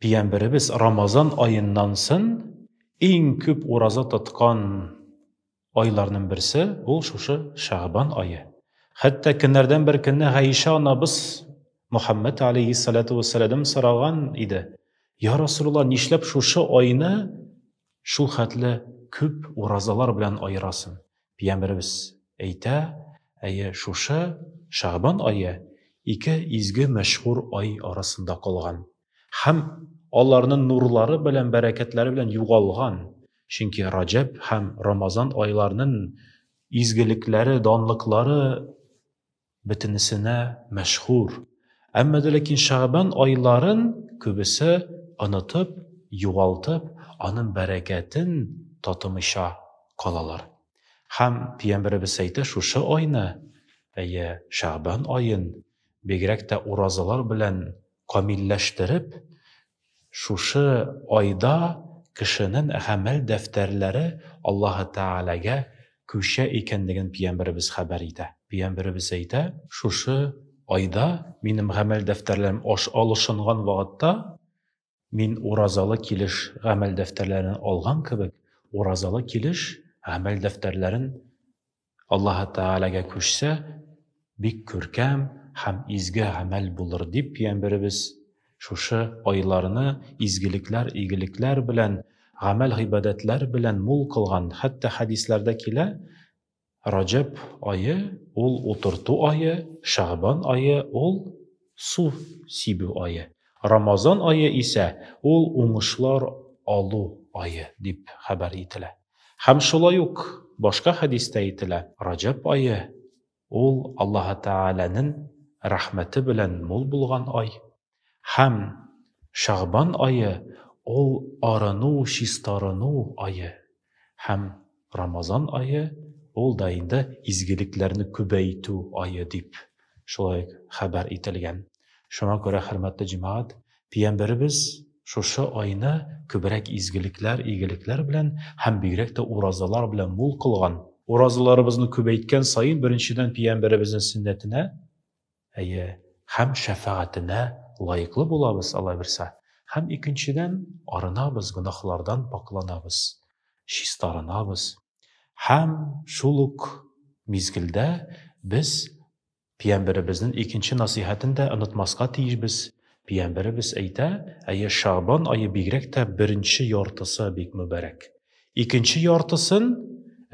Пиямберебез Рамазан аеннан сын иң күп ураза тоткан айларның берсе ул шушы Шәгъбан ае. Хәтта көннәрдән бер көнне Гайшә анабыз Мөхәммәд алейһиссалату вәссәләдәм сораган иде, Я Расулулла, нишләп шушы айны Шул хәтле күп уразалар белән аерасың. Пиямберебез әйтә, әйе, шушы Шәгъбан ае ике изге мәшһүр ай арасында калган һәм аларны нурлары белән бәрәкәтләре белән югалган, чөнки Раҗәб һәм Рамазан айларнын изгелекләре, данлыклары бөтенесенә мәшһүр, әмма дә ләкин шәгъбан айларын күбесе онытып, югалтып, аның бәрәкәтен татымыйча калалар. Һәм пиямбәребез әйтә, шушы айны, әйе, шәгъбан аен, бигрәк тә уразалар белән камилләштереп, Шушы айда кешенен гамәл дәфтәрләре Аллаһы Тәгаләгә күчә икәнлеген пиямберебез хәбәр итә. Пиямберебез әйтә. Шушы айда минем гамәл дәфтәрләрем аш алышынган вакытта, мин уразалы килеш гамәл дәфтәрләрен алган кебек, уразалы килеш гамәл дәфтәрләрен Аллаһы Тәгаләгә күчсә, бик күркәм һәм изге гамәл булыр дип, пиямберебез шушы айларны изгелекләр, игелекләр белән, гамәл-гыйбадәтләр белән мул кылган. Хәтта хәдисләрдә килә, Раҗәб ае, ул утырту ае, Шәгъбан ае, ул су сибү ае, Рамазан ае исә, ул уңышлар алу ае, дип хәбәр ителә. Һәм шулай ук башка хәдистә әйтелә, Раҗәб ае, ул Аллаһы Тәгаләнен рәхмәте белән мул булган ай, һәм Шәгъбан ае, ул арыну, чистарыну ае, һәм Рамазан ае, ул да инде изгелекләрне күбәйтү ае, дип шулай ук хәбәр ителгән. Шуңа күрә, хөрмәтле җәмәгать, пиямберебез шушы айны күбрәк изгелекләр, игелекләр белән һәм бигрәк тә уразалар белән мул кылган. Уразаларыбызны күбәйткән саен, беренчедән, пиямберебезнең сөннәтенә, әйе, һәм шәфәгатенә лаеклы булабыз, Алла бирсә, һәм, икенчедән, арынабыз, гөнаһлардан пакъланабыз, чистарынабыз. Һәм шул ук мизгелдә без пиямберебезнен икенче насыйхәтен дә онытмаска тиешбез, пиямберебез әйтә, әйе, Шәгъбан ае бигрәк тә беренче яртысы бик мөбарәк. Икенче яртысын,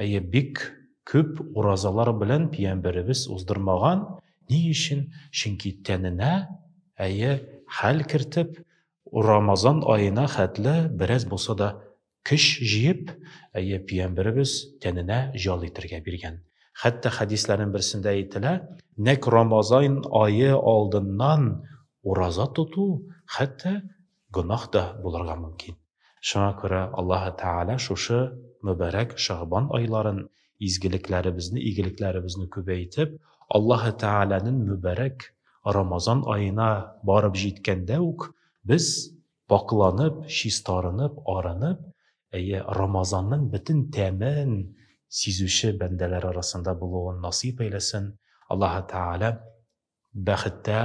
әйе, бик күп уразалар белән пиямберебез уздырмаган, ни өчен? Чөнки тәненә, әйе, хәл кертеп, Рамазан аена хәтле бераз булса да Көч җыеп, әйе, пиямберебез тәненә җал итергә биргән. Хәтта хәдисләрнең берсендә әйтелә, нәкъ Рамазан ае алдыннан ураза тоту хәтта гөнаһ та булырга мөмкин. Шуңа күрә Аллаһы Тәгалә шушы мөбарәк Шәгъбан айларын изгелекләребезне, игелекләребезне күбәйтеп, Аллаһы Тәгаләнең мөбарәк Рамазан аена барып җиткәндә үк без Пакъланып, чистарынып, арынып, әйе, Рамазанның бөтен тәмен сизүче бәндәләр арасында булуын насыйп әйләсен, Аллаһы Тәгалә бәхеттә,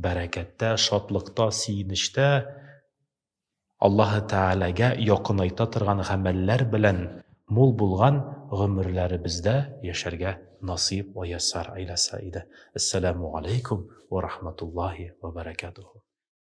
бәрәкәттә, шатлыкта, сөенечтә Аллаһы Тәгаләгә якынайта торган гамәлләр белән мул булган гомерләребездә яшәргә насыйп вә яссар әйләсә иде. Әссәләмү галәйкүм вә рахматуллаһи вә бәрәкәтүһү.